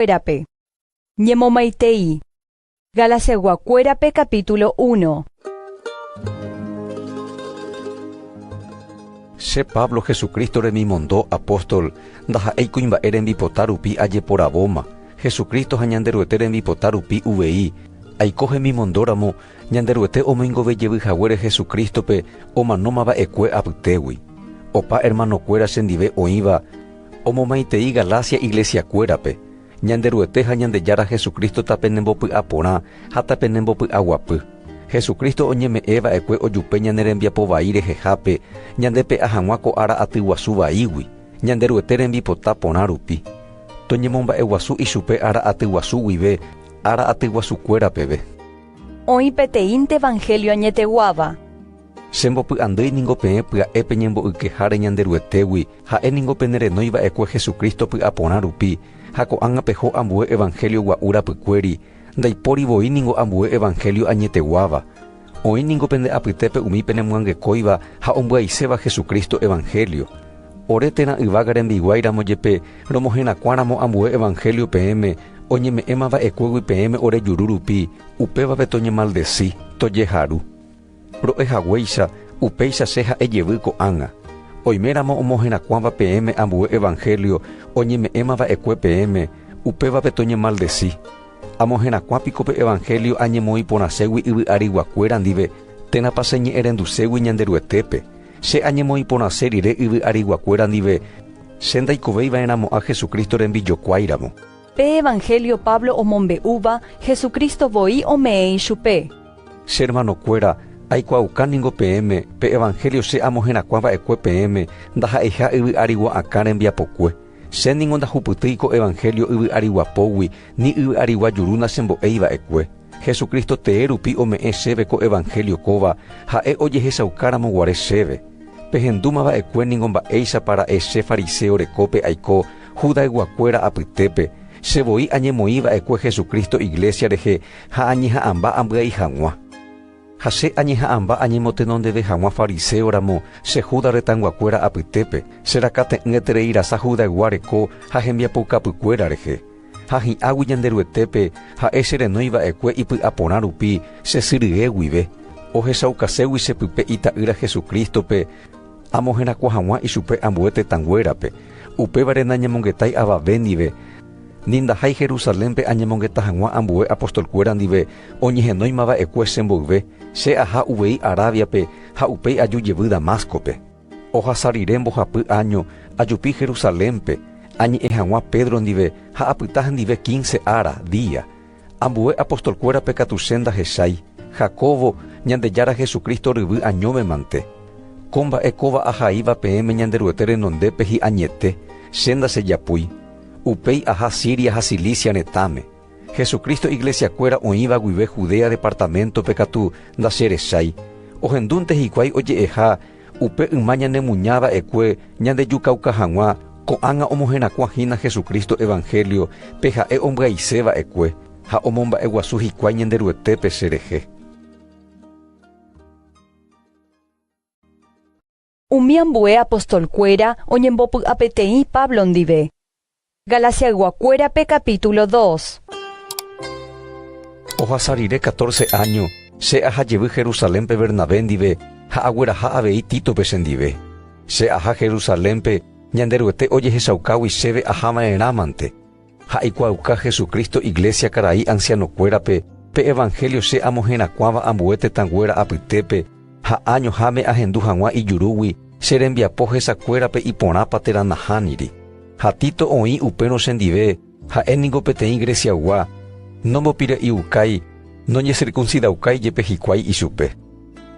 Ñanderuete-kuérape. Ñemomaitei. Galaciaguakuérape capítulo uno. Che Pablo, Jesucristo remimondo apóstol, ndaha'éi kuimba'e rembipota rupi ajeporavóma, Jesucristo ha Ñanderuete rembipota rupi uvei, aiko hemimondóramo Ñanderuete omoingove jevy haguére Jesucristo-pe omanóma va'ekue apytégui. Opa hermanokuéra chendive oĩva, Omomaitei Galacia iglesiakuérape, Ñanderuete ha Ñandejára Jesucristo tapenembopy'a porã ha tapenembopy'aguapy. Jesucristo oñeme'ẽ va'ekue ojupe ñane rembiapo vai rehehápe ñande pe'a hag̃ua ko ára aty guasu vaígui, Ñanderuete rembipota porã rupi. Toñemomba'eguasu ichupe ára aty guasu guive, ára aty guasukuéra peve. Oĩ peteĩnte evangelio añeteguáva. Che mbopy'andýi ningo peẽ pya'e peñembo'ykeháre Ñanderuetégui, ha'e ningo penerenói va'ekue Jesucristo py'aporã rupi, ha ko'ág̃a peho ambue evanhélio gua'u rapykuéri, ndaipóri voi ningo ambue evanhélio añeteguáva. Oĩ ningo pende apytépe umi penemyangekóiva ha ombyaiséva Jesucristo evanhélio. Ore térã yvága rembiguái ramo jepe romoherakuã ramo ambue evanhélio peẽme, oñeme'ẽma va'ekuégui peẽme ore juru rupi, upévape toñemaldesi, tojeharu. Ro'e haguéicha, upéicha che ha'e jevy ko'ág̃a, Oiméramo omoherakuãva peẽme ambue evanhélio oñeme'ẽma va'ekue peẽme, upévape toñemaldesi. Amoherakuã piko pe evanhélio añemoĩ porãségui yvy ariguakuéra ndive, térãpa che ñe'ẽrenduségui Ñanderuetépe, che añemoĩ porãse rire yvy ariguakuéra ndive, che ndaikovéi va'erãmo'ã Jesucristo rembijokuáiramo. Pe evangelio Pablo omombe'úva, Jesucristo voi ome'ẽi chupe. Che hermanokuéra, aikuaauka ningo peẽme, pe evangelio che amoherakuã va'ekue peẽme, ndaha'eiha yvy ári gua'akã rembiapokue. Che ningo ndahupytýi ko evangelio yvy ári guapógui, ni yvy arigua juru nachembo'éi va'ekue. Jesucristo tee rupi ome'ẽ chéve ko evangelio kóva, ha'e ojehechaukáramo guare chéve. Pehendúma va'ekue ningo mba'éichapa ra'e che fariseo rekópe aiko Judaygua-kuéra apytépe, che voi añemoĩ va'ekue Jesucristo iglesia rehe ha añeha'ãmba ambyai hag̃ua. Ha che añeha'ãmba añemotenondeve hag̃ua fariseo ramo che Juda retãyguakuéra apytépe, che rakãte'ỹetereirasa Judaygua reko ha hembiapoukapykuéra rehe. Ha hi'águi Ñanderuetépe, ha'e che renói va'ekue ipy'aporã rupi, che sy rye guive, ohechaukaségui che pype Ita'ýra Jesucristo-pe, amoherakuã haguã ichupe ambue tetãnguérape, upévare nañemongetái avave ndive, ni ndahái Jerusalénpe añemongeta haguã ambue apostolkuéra ndive oñehenóima va'ekue che mboyve, che aha uvei Arábiape ha upéi aju jevy Damasco-pe. Ohasa rire mbohapy áño ajupi Jerusalénpe, añe'ẽ hag̃ua Pedro ndive ha apyta hendive kínse ára, día. Ambue apostolkuérape katu che ndahechái, Jacobo, Ñandejára Jesucristo ryvy añove mante. Ko mba'e kóva ahaíva peẽme Ñanderuete renondépe hi'añete, che ndachejapúi. Upéi aha Siria ha Cilicia retãme. Jesucristo Iglesiakuéra oĩva guive Judea departaméntope katu ndacherechái. Ohendúnte hikuái oje'eha upe yma ñanemuña va'ekue ñandejukauka hag̃ua, ko'ág̃a omoherakuã hína Jesucristo evangelio pe ha'e ombyaise va'ekue ha omomba'eguasu hikuái Ñanderuetépe cherehe. Umi ambue apostolkuéra oñembopy'apeteĩ Pablo ndive. Galasiayguakuérape capítulo dos. Ohasa rire catorce áño, che aha jevy Jerusalénpe Bernabé ndive ha agueraha avei Títope chendive. Che aha Jerusalénpe Ñanderuete ojehechaukágui chéve ahava'erãmante, Ha eikuaauka Jesucristo Iglesia karai ancianokuérape pe evangelio che amoherakuãva ambue tetãnguéra apytépe ha año háme ahendu haguã ijurúgui che rembiapo hesakuérape iporãpa térã nahániri. Ha Tito oĩ upérõ chendive, ha'e ningo peteĩ Greciaygua, nombopire'iukái, noñesircuncidaukai jepe hikuái ichupe.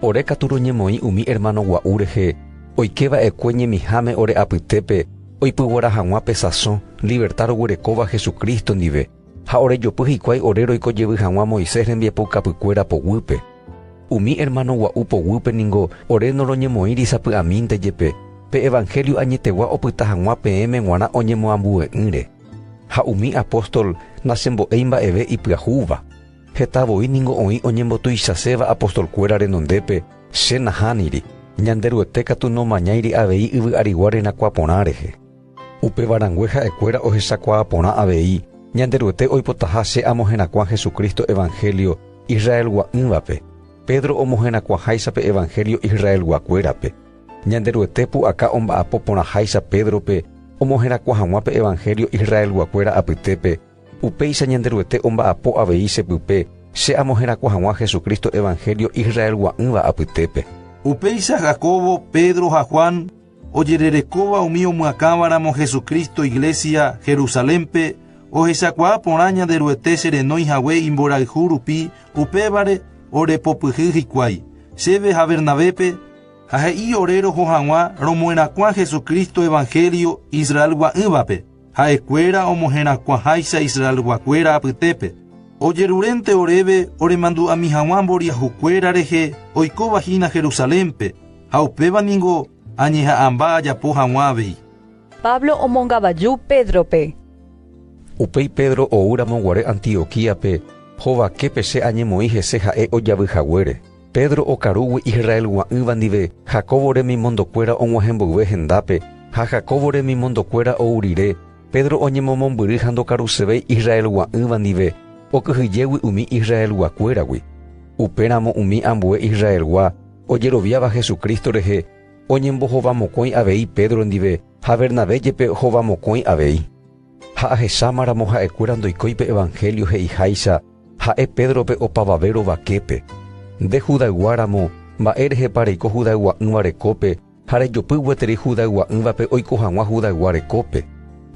Ore katu roñemoĩ umi ermáno gua'u rehe oike va'ekue ñemiháme ore apytépe oipyguara hag̃ua pe sasõ liverta roguerekóva Jesucristo ndive, ha orejopy hikuái ore roiko jevy hag̃ua Moisés rembiapoukapykuéra poguýpe. Umi ermáno gua'u poguýpe ningo ore noroñemoĩri sapy'amínte jepe pe evanhélio añetegua opyta hag̃ua peẽme g̃uarã oñemoambue'ỹre. Ha umi apóstol nachembo'éi mba'eve ipyahúva. Heta voi ningo oĩ oñembotuichaséva apostolkuéra renondépe, che nahániri, Ñanderuete katu nomañáiri avei yvy arigua renakuaa porã rehe. Upéva rangue ha'ekuéra ohechakuaa porã avei, Ñanderuete oipotaha che amoherakuã Jesucristo evanhélio Israelgua'ỹvape, Pedro omoherakuãháicha pe evanhélio Israelguakuérape, Ñanderuete pu'aka omba'apo porãháicha Pédrope omoherakuã hag̃ua pe evanhélio Israelguakuéra apytépe, Upéicha Ñanderuete omba'apo avei che pype che amoherakuã hag̃ua Jesucristo evangelio Israelgua'ỹva apytépe. Upéicha Jacobo, Pedro ha Juan ojererekóva umi omyakãvaramo Jesucristo iglesia Jerusalénpe ohechakuaa porã Ñanderuete che renói hague imborayhu rupi upévare orepopyhy hikuái chéve ha Bernabépe, ha he'i ore roho hag̃ua romoerakuã Jesucristo evangelio Israelgua'ỹvape. Ha'ekuéra omoherakuãháicha Israelguakuéra apytépe, ojerurénte oréve oremandu'ami haguã mboriahukuéra rehe oikóva hína Jerusalénpe, ha upéva ningo añeha'ãmba ajapo haguã avei. Pablo omongavaju Pédrope. Upéi Pedro oúramo guare Antioquíape, hovaképe che añemoĩ hese ha'e ojavy haguére. Pedro okarúgui Israelgua'ỹva ndive Jacobo remimondokuéra og̃uahẽ mboyve hendápe, ha Jacobo remimondokuéra ou rire, Pedro oñemomombyry ha ndokarusevéi Israelgua'ỹva ndive, okyhyjégui umi Israelguakuéragui. Upéramo umi ambue Israelgua ojeroviáva Jesucristo rehe oñembohovamokõi avei Pedro ndive ha Bernabé jepe hovamokõi avei. Ha ahecháma ramo ha'ekuéra ndoikói pe evangelio he'iháicha ha'e Pédrope opavave rovaképe, Nde Judaygua ramo, mba'e rehepa reiko Judaygua'-ỹva rekópe ha rejopy gueteri Judaygua'-ỹvape oiko hag̃ua Judaygua rekópe?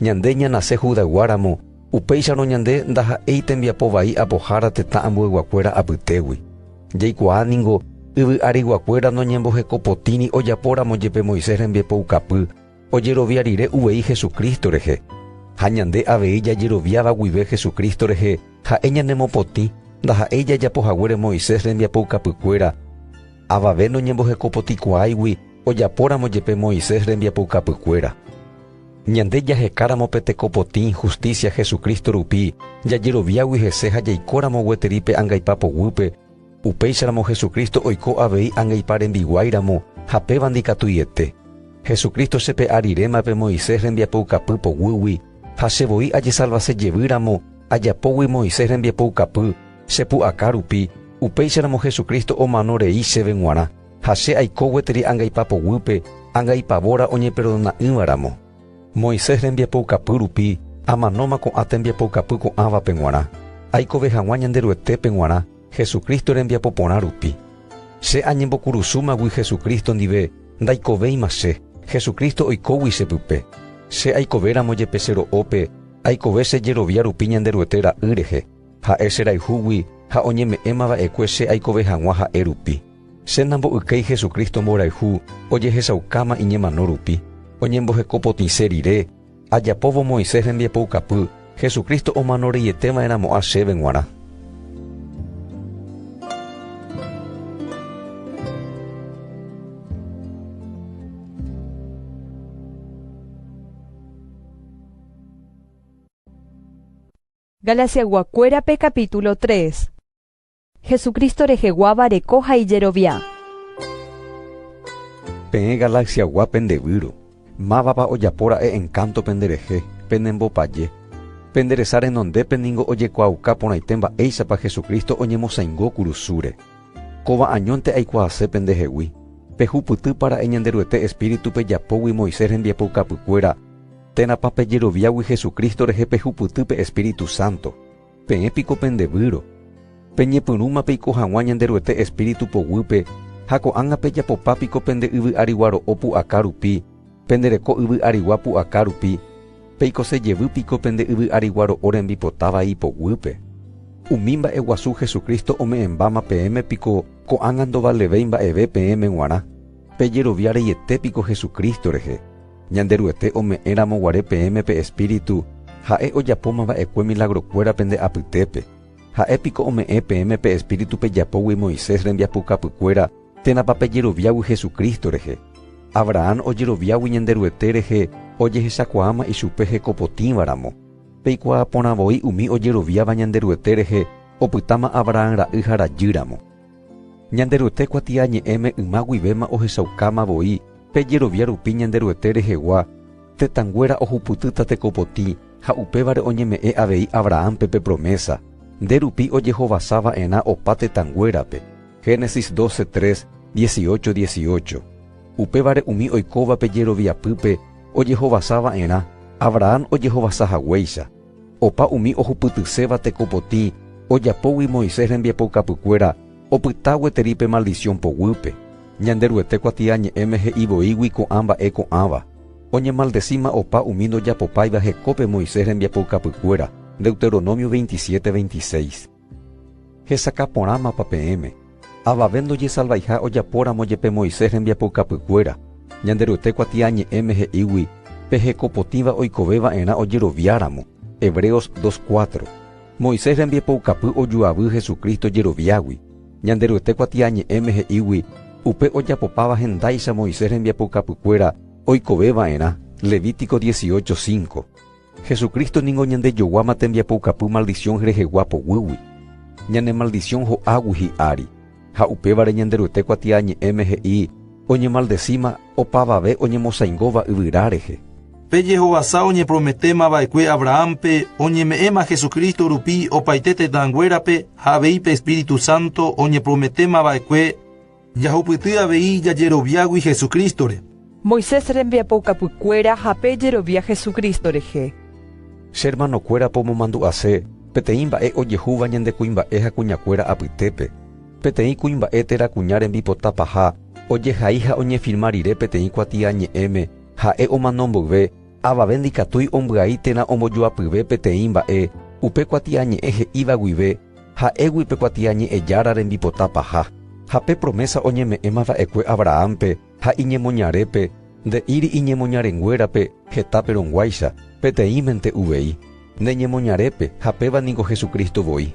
Ñande ñanase Judaygua ramo, upéicharõ ñande ndaha'éi tembiapo vai apohára tetã ambueyguakuéra apytégui. Jaikuaa ningo, yvy ariguakuéra noñembohekopotĩri ojapo ramo jepe Moisés rembiapoukapy, ojerovia rire uvei Jesucristo rehe, ha ñande avei jajeroviáva guive Jesucristo rehe ha'e ñanemopotĩ, ndaha'éi jajapo haguére Moisés rembiapoukapykuéra, avave noñembohekopotĩkuaáigui ojapóramo jepe Moisés rembiapoukapykuéra. Ñande jahekáramo pe tekopotĩ hustísia Jesucristo rupi, jajeroviágui hese ha jaikóramo gueteri pe angaipa poguýpe, Upéicharamo Jesucristo oiko avei angeipa rembiguái ramo ha pévandi katuiete. Jesucristo chepe'a rirema pe Moisés rembiapoukapy poguýgui, ha che voi ajesalvase jevy ramo ajapógui Moisés rembiapoukapy, che pu'aka rupi, upéicharamo Jesucristo omano rei chéve g̃uarã, ha che aiko gueteri angaipa poguýpe, angaipavóra oñeperdona'ỹva ramo. Moisés rembiapoukapy rupi, amanóma ko'ã tembiapoukapy ko'ãvape g̃uarã, aikove hag̃ua Ñanderuetépe g̃uarã, Jesucristo rembiapo porã rupi. Che añembokurusúmagui Jesucristo ndive ndaikovéima che, Jesucristo oikógui che pype. Che aikovéramo jepe che ro'ópe, aikove che jerovia rupi Ñanderuete Ra'y rehe, Ha'e cherayhúgui ha oñeme'ẽma va'ekue che aikove hag̃ua Ha'e rupi. Che nambo'ykéi Jesucristo mborayhu ojehechaukáma iñemano rupi, oñembohekopotĩse rire, Ajapóvo Moisés rembiapoukapy, Jesucristo omano reiete va'erã mo'ã chéve g̃uarã. Galasiaygua kuérape capítulo tres. Jesucristo reheguáva reko ha ijerovia. Peẽ galaxiagua pendevýro, mávapa ojapo ra'e encanto penderehe, penembopaje. Penderesa renondépe ningo ojekuaauka porãite mba'éichapa Jesucristo oñemosãingo kurusúre. Kóva añónte aikuaase pendehegui, pehupytýpa ra'e Ñanderuete Espíritu-pe japógui Moisés rembiapoukapykuéra, térãpa pejeroviágui Jesucristo rehe pehupyty pe Espíritu Santo. Peẽ piko pendevýro, peñepyrũma peiko hag̃ua Ñanderuete espíritu poguýpe, ha ko'ág̃a pejapopa piko pende yvy arigua ro'o pu'aka rupi, pendereko yvy arigua pu'aka rupi, peikose jevy piko pende yvy arigua ro'o rembipota vai ipoguýpe? Umi mba'e guasu Jesucristo ome'ẽmbáma peẽme piko ko'ág̃a ndovalevéi mba'eve peẽme g̃uarã? Pejerovia reiete piko Jesucristo rehe? Ñanderuete ome'ẽramo guare peẽme pe Espíritu, Ha'e ojapóma va'ekue milagrokuéra pende apytépe. Ha'e piko ome'ẽ peẽme pe Espíritu pejapógui Moisés rembiapokapykuéra térãpa pejeroviágui Jesucristo rehe. Abrahán ojeroviágui Ñanderuete rehe ojehechakuaáma ichupe hekopotĩva ramo. Peikuaa porã voi umi ojeroviáva Ñanderuete rehe opytáma Abrahán ra'y ha rajy ramo. Ñanderuete kuatiañe'ẽme yma guivéma ohechaukáma voi pe jerovia rupi Ñanderuete rehegua, tetãnguéra ohupytýta tekopotĩ ha upévare oñeme'ẽ avei Abrahánpe pe promésa, nde rupi ojehovasa va'erã opa tetãnguérape. Génesis 12, 3, 18, 18. Upévare umi oikóva pe jeroviapýpe ojehovasa va'erã, Abrahán ojehovasa haguéicha. Opa umi ohupytyséva tekopotĩ ojapógui Moisés rembiapoukapykuéra opyta gueteri pe maldición poguýpe. Ñanderuete kuatiañe'ẽme he'i voígui ko'ã mba'e ko'ãva. Oñemaldecíma opa umi ndojapopáiva hekópe Moisés rembiapoukapykuéra, Deuteronomio veintisiete veintiséis. Hesakã porãmapa peẽme, avave ndojesalvaiha ojapóramo jepe Moisés rembiapoukapykuéra, Ñanderuete kuatiañe'ẽme he'ígui pe hekopotĩva oikoveva'erã ojeroviáramo, Hebreos 2, 4. Moisés rembiapoukapy ojuavy Jesucristo jeroviágui, Ñanderuete kuatiañe'ẽme he'ígui upe ojapopáva hendáicha Moisés rembiapoukapykuéra oikoveva'erã, Levítico 18, 5. Jesucristo ningo ñandejoguáma tembiapoukapy maldición rehegua poguýgui. Ñane maldición ho'águi hi'ári, ha upévare Ñanderuete kuatiañe'ẽme he'i oñemaldesíma opavave oñemosaingóva yvyra rehe. Pe jehovasa oñeprometéma va'ekue Abrahánpe oñeme'ẽma Jesucristo rupi opaite tetãnguérape ha avei pe Espíritu Santo oñeprometéma va'ekue. Jahupyty avei jajeroviágui Jesucristo-re. Moisés rembiapoukapykuéra ha pe jerovia Jesucristo rehe. Che hermanokuéra pomomandu'ase peteĩ mba'e ojehúva ñande kuimba'e ha kuñakuéra apytépe. Peteĩ kuimba'e térã kuña rembipota paha ojehai ha oñefirma rire peteĩ kuatia ñe'ẽme ha'e omano mboyve, avave ndikatúi ombyai térã ombojoapyve peteĩ mba'e upe kuatia ñe'ẽ he'íva guive, Ha'égui pe kuatiañe'ẽjára rembipota paha, ha pe promésa oñeme'ẽma va'ekue Abrahánpe ha iñemoñarépe, nde'íri iñemoñarenguérape heta perõguáicha, peteĩmente uvei, ne ñemoñarépe ha péva ningo Jesucristo voi.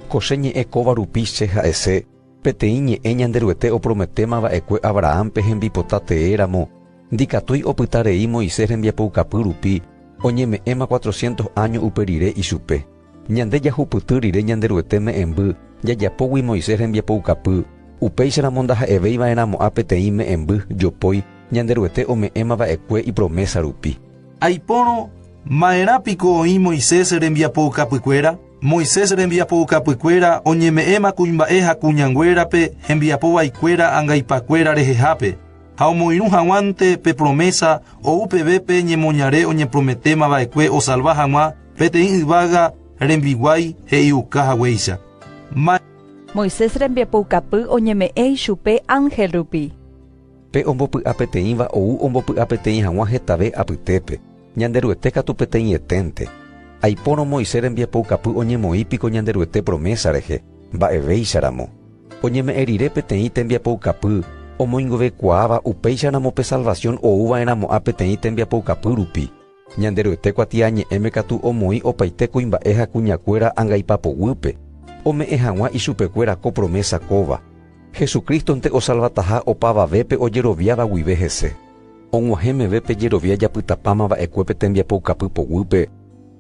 Ko che ñe'ẽ kóva rupi che ha'ese peteĩ ñe'ẽ Ñanderuete oprometéma va'ekue Abrahánpe hembipota tee ramo, ndikatúi opyta rei Moisés rembiapoukapy rupi oñeme'ẽma cuatrocientos áño upe rire ichupe. Ñande jahupyty rire Ñanderuete me'ẽmby jajapógui Moisés rembiapoukapy, upéicharamo ndaha'evéi va'erãmo'ã peteĩ me'ẽmby jopói Ñanderuete ome'ẽma va'ekue ipromésa rupi. Aipórõ, Ma'erã piko oĩ Moisés rembiapoukapykuéra? Moisés rembiapoukapykuéra oñeme'ẽma kuimba'e ha kuñanguérape hembiapo vaikuéra angaipakuéra rehehápe, ha omoirũ haguãnte pe promésa ou peve pe ñemoñare oñeprometéma va'ekue osalva haguã Peteĩ yvága rembiguái he'iuka haguéicha, Ma. Moisés rembiapoukapy oñeme'ẽ ichupe ánhel rupi. Pe ombopy'a peteĩva ou ombopy'a peteĩ hag̃ua hetave apytépe, Ñanderuete katu peteĩeténte. Aipórõ Moisés rembiapoukapy oñemoĩ piko Ñanderuete promésa rehe, mba'evéicharamo. Oñeme'ẽ rire peteĩ tembiapoukapy omoingovekuaáva upéicharamo pe salvasión ouva'erãmo'ã peteĩ tembiapoukapy rupi. Ñanderuete kuatiañe'ẽme katu omoĩ opaite kuimba'e ha kuñakuéra angaipapoguýpe, ome'ẽ hag̃ua ichupekuéra ko promésa kóva, Jesucristo-nte osalvataha opavavépe ojeroviáva guive hese. Og̃uahẽ meve pe jerovia japytapáma va'ekue pe tembiapoukapy poguýpe,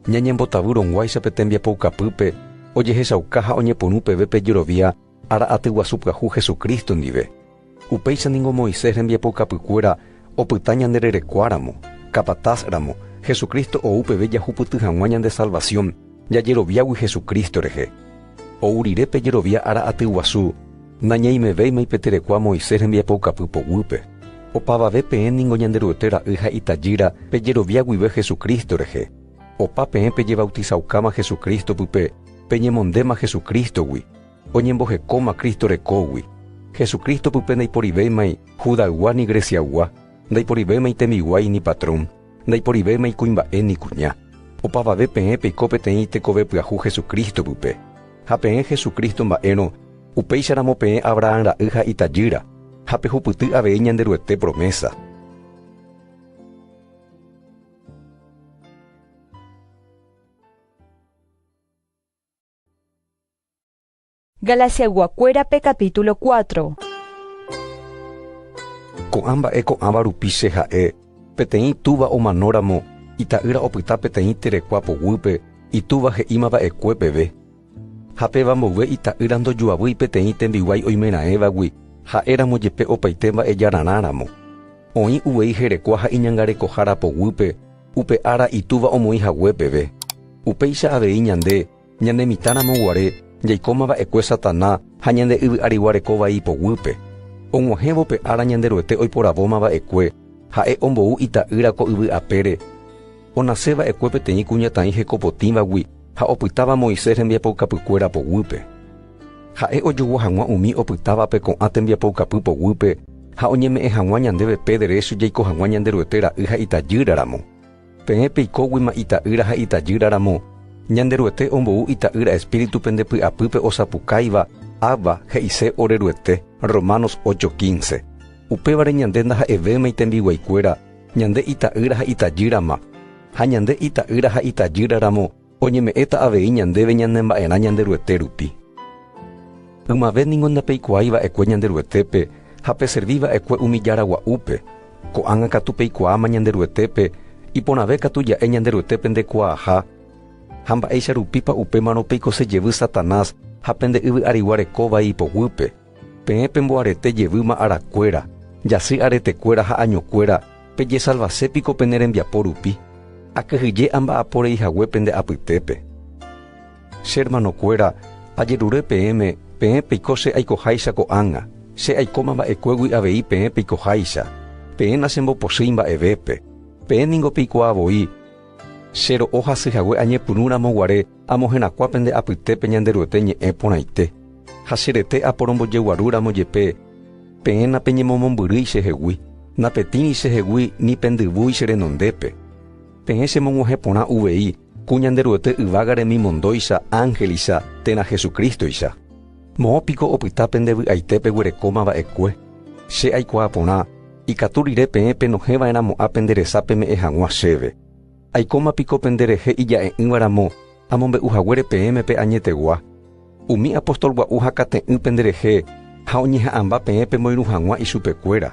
ñañembotavy rõguáicha pe tembiapoukapýpe, ojehechauka ha oñepyrũ peve pe jerovia Ára atyguasu pyahu Jesucristo ndive. Upéicha ningo Moisés rembiapoukapykuéra opyta ñande rerekuáramo, capataz ramo, Jesucristo ou peve jahupyty hag̃ua ñande salvación, jajeroviágui Jesucristo rehe. Ou rire pe jerovia ára atyguasu, nañaimevéima ipeterekua Moisés rembiapoukapy poguýpe. Opavave peẽ ningo Ñanderuete Ra'y ha Itajýra pe jerovia guive Jesucristo rehe. Opa peẽ pejevautizaukáma Jesucristo pype, peñemondéma Jesucristo-gui. oñembohekóma Cristo rekógui, Jesucristo pype ndaiporivéimai Judaygua ni Greciaygua, ndaiporivéimai tembiguái ni patrón, ndaiporivéimai kuimba'e ni kuña. Opavave peẽ peiko peteĩ tekove pyahu Jesucristo pype. Ha peẽ Jesucristo mba'érõ, upéicharamo peẽ Abrahán ra'y ha itajýra, ha pehupyty avei Ñanderuete promésa. Galasiayguakuérape capítulo cuatro. Ko'ã mba'e ko'ãva rupi che ha'e, Peteĩ túva omanóramo, ita'ýra opyta peteĩ terekua poguýpe, itúva he'íma va'ekue peve. Ha péva mboyve ita'ýra ndojuavýi peteĩ tembiguái oimeraẽvagui, ha'éramo jepe opaite mba'ejararã ramo. Oĩ uvei herekua ha iñangarekohára poguýpe, upe ára itúva omoĩ hague peve. Upéicha avei ñande, ñane mitãramo guare, jaikóma va'ekue Satana ha ñande yvy ariguareko vai poguýpe. Og̃uahẽvo pe ára Ñanderuete oiporavóma va'ekue, ha'e ombou Ita'ýra ko yvy apére. Onase va'ekue peteĩ kuñataĩ hekopotĩvagui ha opytáva Moisés rembiapoukapykuéra poguýpe. Ha'e ojogua hag̃ua umi opytávape ko'ã tembiapoukapy poguýpe ha oñeme'ẽ hag̃ua ñandéve pe derécho jaiko hag̃ua Ñanderuete ra'y ha itajýra ramo. Peẽ peikóguima ita'ýra ha itajýra ramo, Ñanderuete ombou Ita'ýra espíritu pende py'apýpe osapukáiva, Abba, he'ise ore Ruete, Romanos 8, 15. Upévare ñande ndaha'evéima itembiguaikuéra, ñande ita'ýra ha itajýrama. Ha ñande ita'ýra ha itajýra ramo, Oñeme'ẽta avei ñandéve ñanemba'erã Ñanderuete rupi. Ymave ningo ndapeikuaái va'ekue Ñanderuetépe ha peservi va'ekue umi Jára Gua'úpe, ko'ág̃a katu peikuaáma Ñanderuetépe, iporãve katu ja'e Ñanderuetépe ndekuaaha, ha mba'éicha rupípa upémarõ peikose jevy Satanás ha pende yvy'arigua rekóva ipoguýpe. Peẽ pemboarete jevýma arakuéra, jasy aretekuéra ha añokuéra, pejesalvase piko pene rembiapo rupi? Akyhyje amba'apo rei hague pende apytépe. Che ermanokuéra, ajerure peẽme, peẽ peiko che aikoháicha ko'ág̃a, che aikóma mba'ekuégui avei peẽ peikoháicha, peẽ nachembopochýi mba'evépe. Peẽ ningo peikuaa voi che ro'o hasy hague añepyrũramo guare, Amo herakuã pende apytépe Ñanderuete ñe'ẽ porãite, ha che rete aporombojeguarúramo jepe, peẽ napeñemomombyrýi chehegui, napetĩri chehegui ni pendyvúi che renondépe. Peẽ chemog̃uahẽ porã uvei ku Ñanderuete yvága remimondóicha, ángelcha térã Jesucristo-icha. Moõ piko opyta pende vy'aite peguerekóma va'ekue? Che aikuaa porã, ikatu rire peẽ penohẽva'erãmo'ã pende resa peme'ẽ hag̃ua chéve. Aikóma piko pende rehe ija'e'ỹva ramo amombe'u haguére peẽme pe añetegua? Umi apóstol gua'u hakate'ỹ pende rehe ha oñeha'ãmba peẽ pemoirũ hag̃ua ichupe kuéra.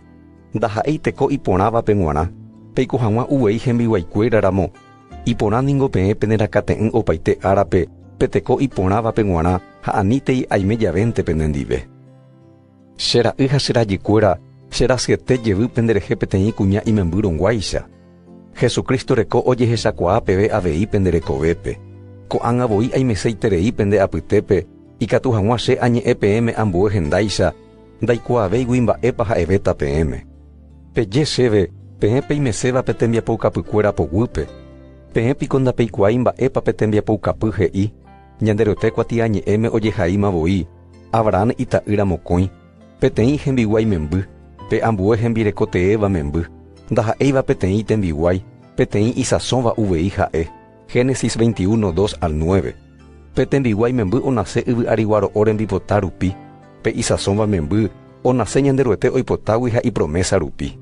Ndaha'éi teko iporãva pe g̃uarã peiko hag̃ua uvei hembiguái kuéra ramo. Iporã ningo peẽ penerakate'ỹ opaite árape pe teko iporãva pe g̃uarã ha anítei aime javénte pene ndive. Che ra'y ha che rajykuéra cherasyete jevy penderehe peteĩ kuña imemby rõguáicha. Jesucristo reko ojehechakuaa peve avei pende rekovépe. Ko'ág̃a voi aimeseiterei pende apytépe ikatu hag̃ua che añe'ẽ peẽme ambue hendáicha ndaikuaavéigui mba'épa ha'evéta peẽme. Peje chéve peẽ peimeséva pe tembiapoukapykuéra poguýpe, peẽ piko ndapeikuaái mba'épa pe tembiapoukapy he'i, Ñanderuete kuatiañe'ẽme ojehaíma voi, Abrahán ita'ýra mokõi, peteĩ hembiguái memby, pe ambue hembireko teéva memby, ndaha'éiva peteĩ tembiguái, peteĩ isãsõva uvei ha'e. Génesis 21, 2 al 9. Pe tembiguái memby onase yvyariguaro'o rembipota rupi, pe isãsõva memby onase Ñanderuete oipotágui ha ipromésa rupi.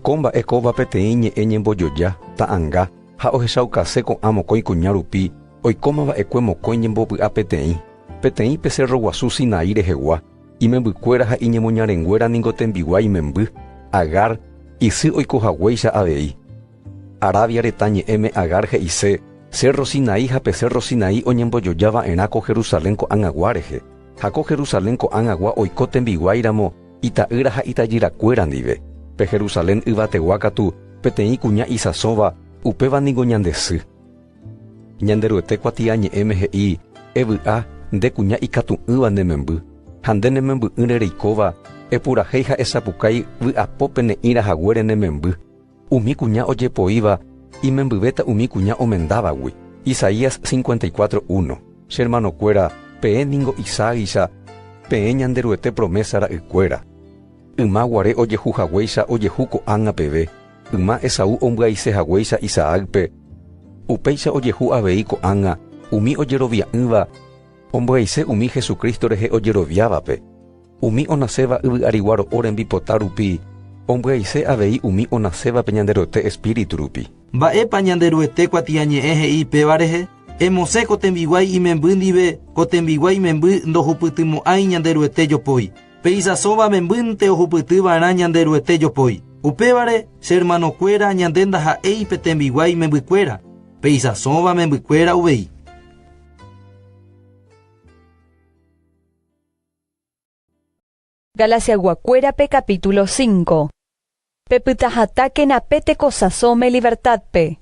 Ko mba'e kóva peteĩ ñe'ẽ ñembojoja, ta'anga, ha ohechaukase ko'ã mokõi kuña rupi Oikóma va'ekue mokõi ñembovy'a peteĩ, peteĩ pe cérro guasu Sinaí rehegua, imembykuéra ha iñemoñarenguéra ningo tembiguái memby, Agar, isy oiko haguéicha avei. Arabia retã ñe'ẽme Agar he'ise cérro Sinaí ha pe cérro Sinaí oñembojoja va'erã ko Jerusalén ko'ag̃agua rehe, ha ko Jerusalén ko'ag̃agua oiko tembiguái ramo ita'ýra ha itajyrakuéra ndive. Pe Jerusalén yvategua katu peteĩ kuña isãsõva, upéva ningo ñande sy. Ñanderuete kuatiañe'ẽme he'i, Evy'a, nde kuña ikatu'ỹva ne memby, ha nde ne memby'ỹre reikóva, epurahéi ha esapukái vy'apo pene'ĩra haguére ne memby. Umi kuña ojepoíva imembyvéta umi kuña omendávagui. Isaías 54, 1. Che ermanokuéra, peẽ ningo Isaágicha peẽ Ñanderuete promésa ra'ykuéra. Yma guare ojehu haguéicha ojehu ko'ág̃a peve. Yma Esaú ombyaise haguéicha Isaácpe, upéicha ojehu avei ko'ág̃a umi ojerovia'ỹva ombyaiséva umi Jesucristo rehe ojeroviávape, umi onaséva yvy'arigua ro'o rembipota rupi ombyaise avei umi onasévape Ñanderuete Espíritu rupi. Mba'épa Ñanderuete kuatiañe'ẽ he'i péva rehe, Emosẽ ko tembiguái imemby ndive, ko tembiguái memby ndohupytymo'ãi Ñanderuete jopói. Peichasóva membyte ohupyty va'erã Ñanderuete jopói. Upévare, che hermanokuéra, ñande ndaha'éi pe tembiguái membykuéra, peichasóva membykuéra uvei. Galasiaygua kuérape capítulo cinco. Pepytahatákena pe tekosãso melibertádpe.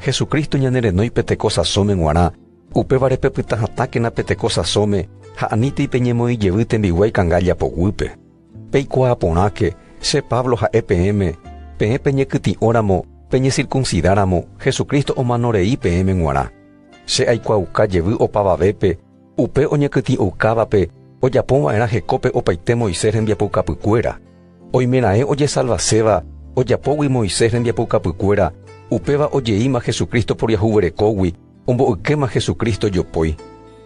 Jesucristo ñanerenói pe tekosãsóme g̃uarã, upévare pepytahatákena pe tekosãsóme ha anítei peñemoĩ jevy tembiguái kanga japoguýpe. Peikuaa porãke, che Pablo ha'e peẽme, peẽ peñekytĩ'óramo peñesirkunsidáramo, Jesucristo omano rei peẽme g̃uarã. Che aikuaauka jevy opavavépe, Upe oñekytĩ'oukávape ojapova'erã hekópe opaite Moisés rembiapoukapykuéra. Oimeraẽ ojesalvaséva ojapógui Moisés rembiapoukapykuéra, upéva ojeíma Jesucristo poriahuverekógui ombo'ykéma Jesucristo jopói.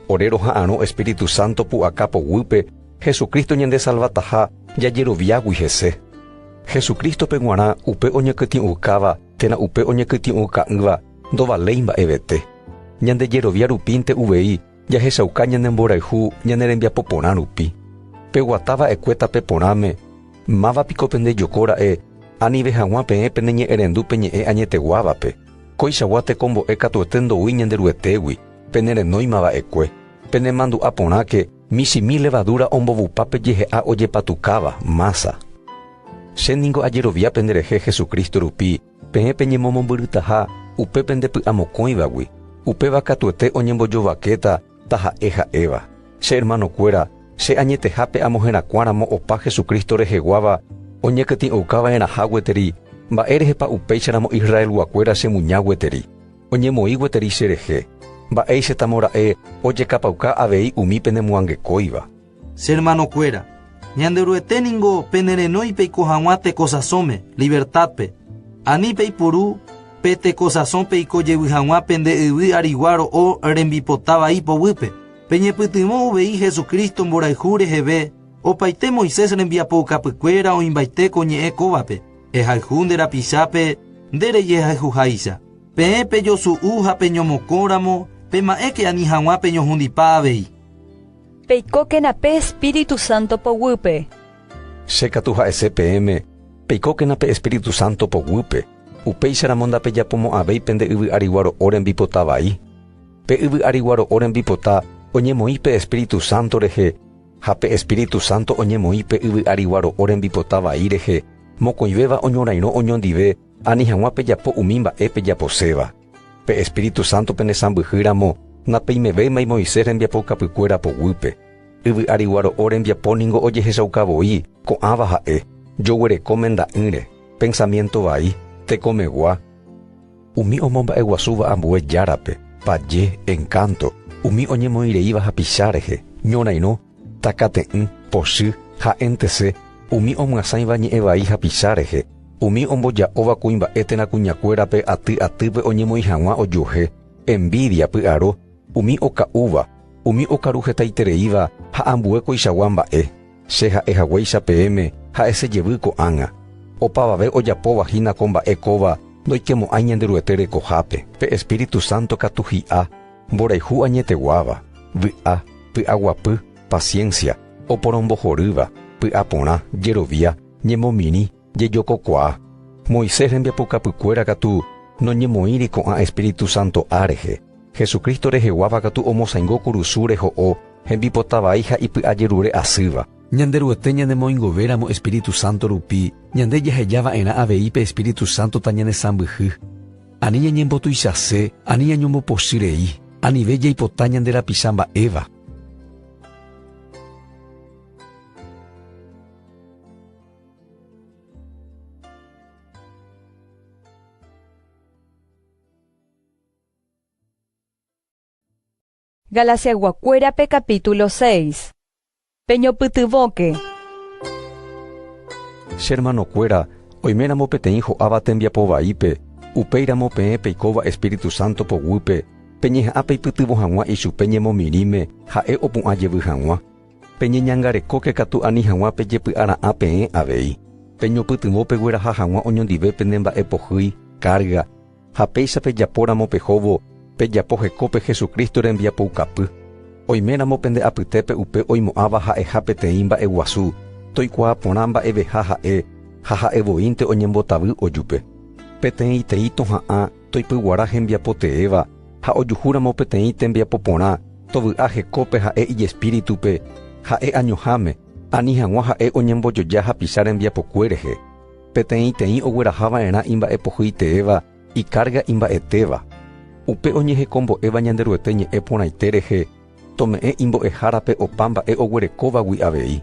Ore roha'arõ Espíritu Santo pu'aka poguýpe Jesucristo ñandesalvataha jajeroviágui hese. Jesucristo-pe g̃uarã upe oñekytĩ'oukáva térã upe oñekytĩ'ouka'ỹva Ndovaléi mba'evete. Ñande jerovia rupínte uvei jahechauka ñane mborayhu ñane rembiapo porã rupi. Peguata va'ekue tape porãme, Máva piko pende joko ra'e, anive hag̃ua peẽ pene ñe'ẽrendu pe ñe'ẽ añeteguávape. Koichagua tekombo'e katuete ndoúi ñande Ruetégui, pene renóima va'ekue. Pene mandu'a porãke, michĩmi levadura ombovupa pe jehe'a ojepatukáva, mása. Che ningo ajerovia pende rehe Jesucristo rupi Peẽ peñemomombyrytaha upe pende py'amokõivagui, upéva katuete oñembojovakéta taha'e ha'éva. Che ermanokuéra, che añetehápe amoherakuãramo opa Jesucristo reheguáva oñekytĩ'oukava'erãha gueteri, mba'érehepa upéicharamo Israelguakuéra chemuña gueteri, oñemoĩ gueteri cherehe? Mba'éichatamora'e ojekapauka avei umi penemoangekóiva? Che hermanokuéra, Ñanderuete ningo penerenói peiko hag̃ua tekosasõme, livertádpe, ani peipuru pe tekosasõ peiko jevy hag̃ua pende yvy arigua ro'o rembipota vai poguýpe. Peñepytyvõ uvei Jesucristo mborayhu reheve opaite Moisés rembiapoukapykuéra oĩmbaite ko ñe'ẽ kóvape, Ehayhu nde rapichápe nde rejehayhuháicha. Peẽ pejosu'u ha peñomokõ ramo, pema'ẽke ani hag̃ua peñohundipa avei. Peikókena pe Espíritu Santo poguýpe. Che katu ha'ese peẽme, Peikókena pe Espíritu Santo poguýpe, upéicharamo ndapejapomo'ãvéi pende yvy ariguaro'o rembipota vai. Pe yvy ariguaro'o rembipota oñemoĩ pe Espíritu Santo rehe, ha pe Espíritu Santo oñemoĩ pe yvy ariguaro'o rembipota vai rehe, mokõivéva oñorairõ oñondive ani hag̃ua pejapo umi mba'e pejaposéva. Pe Espíritu Santo penesãmbyhy ramo, napeimevéimai Moisés rembiapoukapykuéra poguýpe. Yvy ári guaro'o rembiapo ningo ojehechauka voi, ko'ãva ha'e, joguereko menda'ỹre, pensamiento vai, tekomegua, umi omomba'eguasúva ambue járape, paje, encanto, umi oñemoĩreíva hapicha rehe, ñorairõ, Takate'ỹ, pochy, ha'entese, umi omyasãiva ñe'ẽ vai hapicha rehe, umi omboja'óva kuimba'e térã kuñakuérape aty atýpe oñemoĩ hag̃ua ojuehe, envídia, py'aro, umi oka'úva, umi okaru hetaitereíva ha ambue koichagua mba'e, che ha'e haguéicha peẽme, ha'ese jevy ko'ág̃a. Opavave ojapóva hína ko mba'e kóva ndoikemo'ãi Ñanderuete rekohápe. Pe Espíritu Santo katu hi'a. Mborayhu añeteguáva, vy'a, py'aguapy, paciencia, oporombohorýva, py'aporã, jerovia, ñemomirĩ, jejokokuaa. Moisés rembiapokapykuéra katu noñemoĩri ko'ã Espíritu Santo A rehe. Jesucristo reheguáva katu omosaingo kurusúre ho'o hembipota vai ha ipy'ajerure asýva. Ñanderuete ñanemoingovéramo Espíritu Santo rupi, ñande jahejava'erã avei pe Espíritu Santo tañanesãmbyhy. Ani ñañembotuichase ani ñañombopochy rei, anive jaipota ñande rapicha mba'éva. Galasiaguakuérape capítulo seis. Peñopytyvõke. Che hermanokuéra, oiméramo peteĩ ho'áva tembiapo vaípe, upéiramo peẽ peikóva Espíritu Santo poguýpe, peñeha'ã peipytyvõ hag̃ua ichupe ñemomirĩme ha'e opu'ã jevy hag̃ua. Peñeñangarekóke katu ani hag̃ua pejepy'ara'ã peẽ avei. Peñopytyvõ pegueraha hag̃ua oñondive pene mba'e pohýi, kárga, Ha péicha pejapóramo pe hóvo, pejapo heko pe Jesucristo rembiapoukapy. Oiméramo pende apytépe upe oimo'ãva ha'eha peteĩ mba'e guasu, toikuaa porã mba'eveha ha'e, ha ha'e voínte oñembotavy ojupe. Peteĩtei toha'ã toipyguara hembiapo teéva, ha ojuhúramo peteĩ tembiapo porã, tovy'a hekópe ha'e ijespíritupe, ha'e añoháme, ani hag̃ua ha'e oñembojoja hapicha rembiapokue rehe. Peteĩteĩ ogueraha va'erã imba'epohyiteéva ikárga imba'etéva. Upe oñehekombo'éva Ñanderuete ñe'ẽ porãite rehe, tome'ẽ imbo'ehárape opa mba'e oguerekóvagui avei.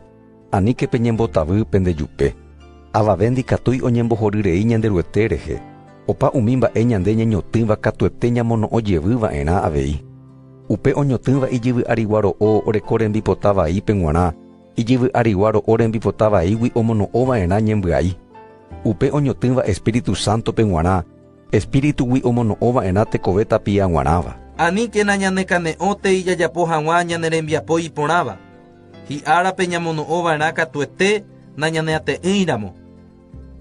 Aníke peñembotavy pende jupe. Avave ndikatúi oñembohory rei Ñanderuete rehe, opa umi mba'e ñande ñañotỹva katuete ñamono'õ jevy va'erã avei. Upe oñotỹva ijyvy'arigua ro'o oreko rembipota vaípe g̃uarã, Ijyvy arigua ro'o rembipota vaígui omono'õ va'erã ñembyai. Upe oñotỹva Espíritu Sántope g̃uarã, Espíritugui omono'õ va'erã tekove tapia g̃uarãva. Aníkena ñanekane'õtei jajapo hag̃ua ñane rembiapo iporãva, hi'árape ñamono'õ va'erã katuete nañaneate'ỹiramo.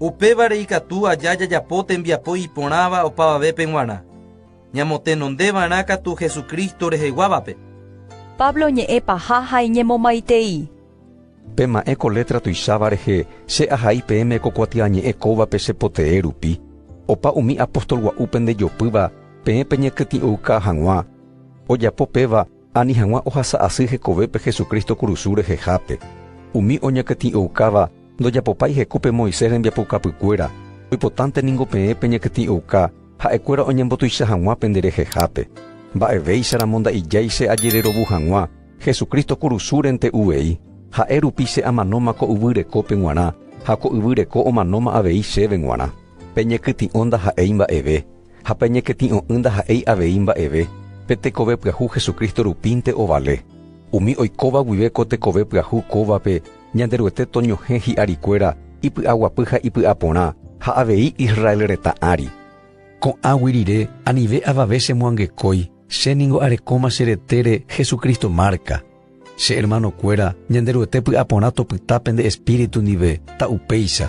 Upévare ikatu aja jajapo tembiapo iporãva opavavépe g̃uarã. ñamotenondeva'erã katu Jesucristo reheguávape. Pablo ñe'ẽ paha ha iñemomaitei. Pema'ẽ ko létra tuicháva rehe, Che ahai peẽme ko kuatiañe'ẽ kóvape che potee rupi. Opa umi apóstol gua'úpe ndejopýva, peẽ peñekytĩ'ouka hag̃ua. Ojapo péva, Ani hag̃ua ohasa asy hekovépe Jesucristo kurusu rehehápe. Umi oñakytĩ'oukáva ndojapopái heku pe Moisés rembiapoukapykuéra, oipotánte ningo peẽ peñakytĩ'ouka ha'ekuéra oñembotuicha hag̃ua pende rehehápe. Mba'evéicharamo nda'ijái che ajererovu hag̃ua Jesucristo kurusúrente uvei, ha'e rupi che amanóma ko yvy rekópe g̃uarã ha ko yvy reko omanóma avei chéve g̃uarã. Peñekytĩ'o ndaha'éi mba'eve, ha pe ñekety'õ'ỹ ndaha'éi avei mba'eve, pe tekove pyahu Jesucristo rupínte ovale. Umi oikóva guive ko tekove pyahu kóvape Ñanderuete toñohẽ hi'arikuéra ipy'aguapy ha ipy'aporã ha avei Israel retã ári. Ko'ãgui rire, anive avave chemoangekói, che ningo arekóma che retére Jesucristo márka, Che hermanokuéra, Ñanderuete py'aporã topyta pende espíritu ndive, ta upéicha.